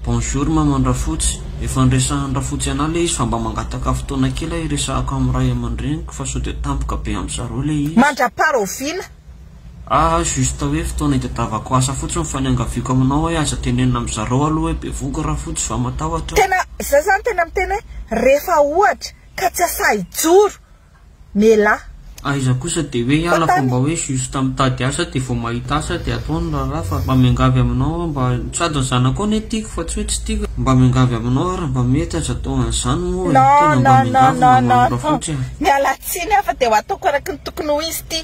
Bonjour maman Rafotsy, efa niresahan Rafotsy anah le izy fa mba mangataka fotoana kely ah hiresahako am ray amandreniko fa sao de tampoka be am zareo le izy. Mandrapara ho vila. Ah juste hoe fotoana itadiavako asa fotsiny fa niangaviako aminao hoe aza tenenina am zareo aloha hoe bevohoka Rafotsy fa matahotra. Tena za zany tena miteny hoe rehefa ohatra ka tsy asahy hijoro. Melah. Aiza kosa de hoe hiala fa mba hoe juste mitady asa de vao mahita asa de atao ny raharaha fa mba miangavy aminao aho mba sady ny zanakao anie tiako fa tsy hoe tsy tiako e mba miangavy aminao aho raha mba mety aza atao an'izany moa e tena mba miangavy mba manamborafotsy aho. Miala tsiny aho fa de ho ataoko araky ny tokony ho izy ity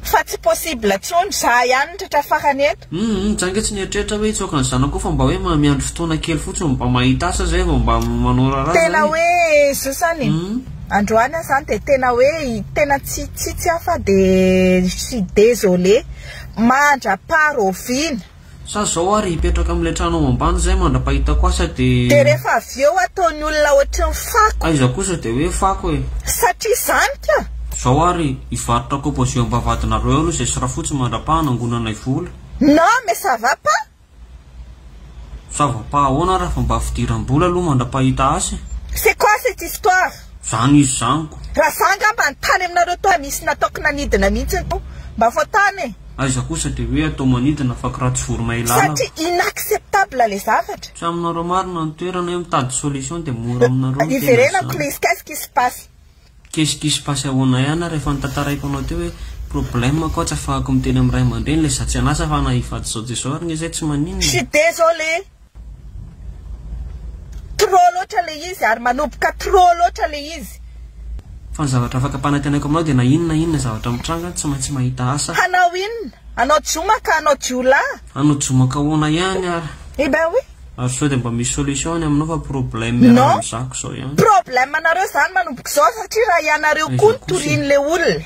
fa tsy possible tsony za ihany ny tratra farany eto. Humm tsy ange tsy nieritreritra hoe hitsoaka ny zanako fa mba hoe miandry fotoana kely fotsiny mba mahita asa zay vao mba manao raharaha zay Tena hoe Jesosy any e! Humm. Androany aho zany dia tena hoe tena tsy tsitsy aho fa dia je suis désolé! Mandra-paro oviana? Sa zao ary hipetraka amin'ilay trano ao ambany zay mandra-pahitako asa dia. Dia rehefa avy eo ataon'ny olona ohatry ny fako. Aiza kosa dia hoe fako e! Satria zany ka! Zao ary hivarotra kobo zio ampavadinareo eo aloha zay sy rafotsy mandrapaha hanangonanay vola. Non mais ça va pas. Ça va pas ahoana raha fa mba fidiram-bola aloha mandra-pahita asa e. C'est quoi cette histoire. Zany izy zany ko. Raha za nga mba nitany aminareo tao misy nataoko nanidina mihitsy tao mba vao tany e. Aiza kosa de hoe atao manidina fa kiraha tsy vorona ilàna fa. Satria inacceptable le zavatra. Tsy aminareo marina ny toerana e mitady solution de mora aminareo ny tena zany. Iverenako le izy qu'est-ce qui se passe. Qu'est-ce qui se passe ahoana ihany ary efa notantaraiko anao teo hoe problème ako tsy afahako miteny amin'ny ray aman-dreny le za tsy an'asa fa ana hivady zao de zao ary nge zay tsy maninona. Tsy desolé. Trop loatra le izy ary manoboka trop loatra le izy. Fa ny zavatra afaka ampanantenaiko aminao dia na inona na inona zavatra mitranga tsy maintsy mahita asa. Hanao inona? Hanao jioma ka hanao jiolahy? Hanao jioma ka ahoana ihany ary? Eh ben oui. Ary sao dia mba misy solution any aminao fa problème miarahana Non, amizako zao ihany. problème nareo zany manomboka izao satria raha ianareo koa no torian'ilay olona.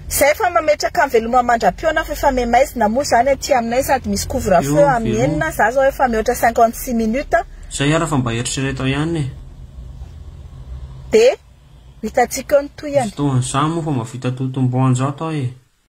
Zay fa mametraka veloma mandra-pihaona fa efa memaizina moa zany aty aminay sady misy couvre feu amin'ny enina, za zao efa mihoatra cinquante six minutes. Zay ara fa mba eritrereto ihany e. Dia hitantsika eo ny tohiny. Misy tohan'izany moa fa mavita totomboanjato aho e.